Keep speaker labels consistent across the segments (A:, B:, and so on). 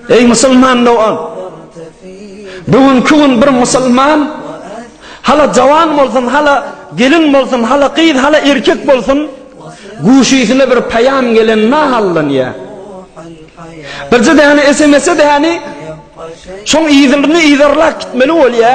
A: Eý musulman dogan! Bu günki gün bir musulman hala jawan bolsun, hala gelin bolsun, hala gyz, hala erkek bolsun, guşysyna bir paýam gelen nahallanýa. Birje däne SMS-e däni şoň yzyny yzarlap gitmeli bolýa.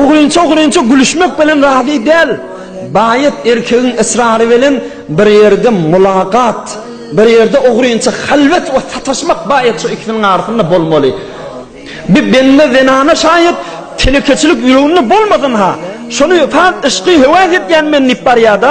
A: Ogrynça-ogrynça gülüşmek bilen razy däl. Baýat erkegiň ysrary bilen bir ýerde mulagat, bir ýerde ogrynça halwet we sataşmak baýat şu ikisiniň arasynda bolmaly. Bir bende zenana şaýat telekeçilik ýüreginde bolmasyn-ha, şony fakt yşky höwäs etýän men diýip barýa-da,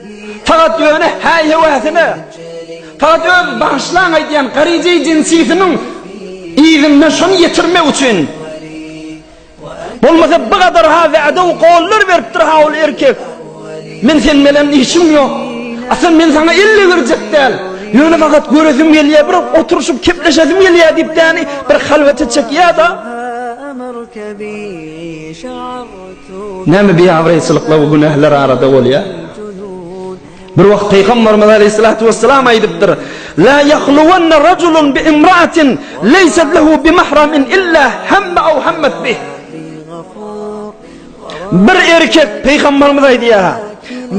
A: Fakat ýöne häý-heweisine, fakat öz bagyşlaň aýdýan garyjy jinsisiniň yzyndan şony ýetirmek üçin. Bolmasa bu gadar-ha wädew gollar beripdir-ha ol erkek. Men sen belen işim ýok. Asal men saňa elle berjek däl. Ýöne fakat göresim gelýär, bir oturyşyp kepleşesim gelýär diýip däni bir halwete çekýär-da. Näme biabraýçylyklar we günäler arada bolýar? Bir wagt Pygamberimiz Aleýhissalatu wesselam aýdypdyr, La ýahluwanna rajulun bi imraatin leýsat lehu bi mahramin illa hemme aw hammat bih. Bir erkek Pygamberimiz aýdýar,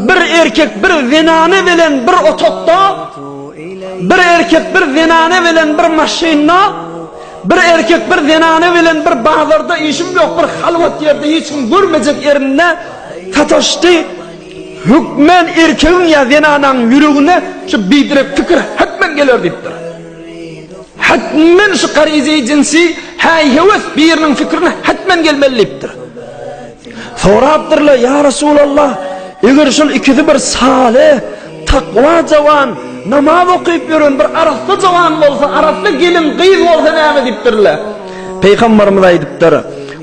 A: bir erkek bir zenane bilen bir otokda, bir erkek bir zenane bilen bir maşynda Bir erkek bir zenana bilen bir bazarda işim ýok bir halwat ýerde hiç kim görmejek ýerinde sataşdy. Hökmen erkegiň ýa zenananyň ýüregine şu bidirek pikir hetmen geler diýipdir. Hetmen şu garyzy jinsi häý-heves biriniň fikrine hetmen gelmeli diýipdir. Sorapdyrlar, Ýa Resulallah, eger şol ikisi bir saly, takwa jawan, namaz okyp ýören bir arassa jawan bolsa, arassa gelin, gyz bolsa näme diýipdirler? Pygamberimiz aýdypdyr,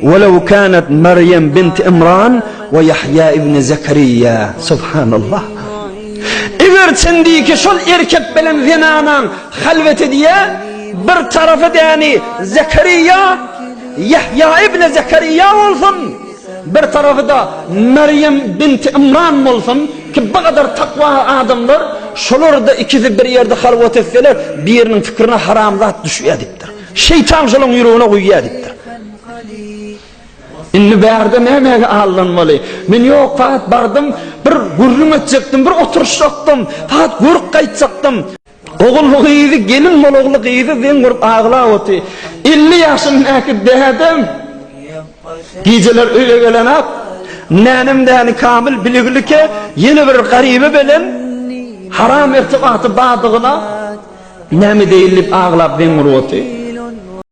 A: Welew kanet Merýem binti Imran we Ýahýa ibni Zekerýa. Subhanallah! Eger çendiki şol erkek bilen zenanaň halwet edýä, bir tarapy däni Zekerýa, Ýahýa ibn Zekerýa bolsun, bir tarapy-da Merýem bint Ymran bolsun ki, bu gadar takwa adamlar, şolar-da ikisi bir ýerde halwat etseler, biriniň pikirine haramzat düşýär diýipdir. Şeýtan şolaryň ýüregine guýýar diýipdir. Indi bärde nämege aldanmaly? Men ýok, faqat bardym, bir gürrüň etjekdim, bir oturyşjakdym, faqat görüp gaýtjakdym. Ogulgyzy gelin bolagly gyzy zeň urup aglap oty. Elli ýaşyndäki dädem gijeler öýe gelenok. Nänem däni Kamyl biligilike ýene bir garyby belen haram irtibaty bardygyna näme deýin diýip aglap zeň urup oty.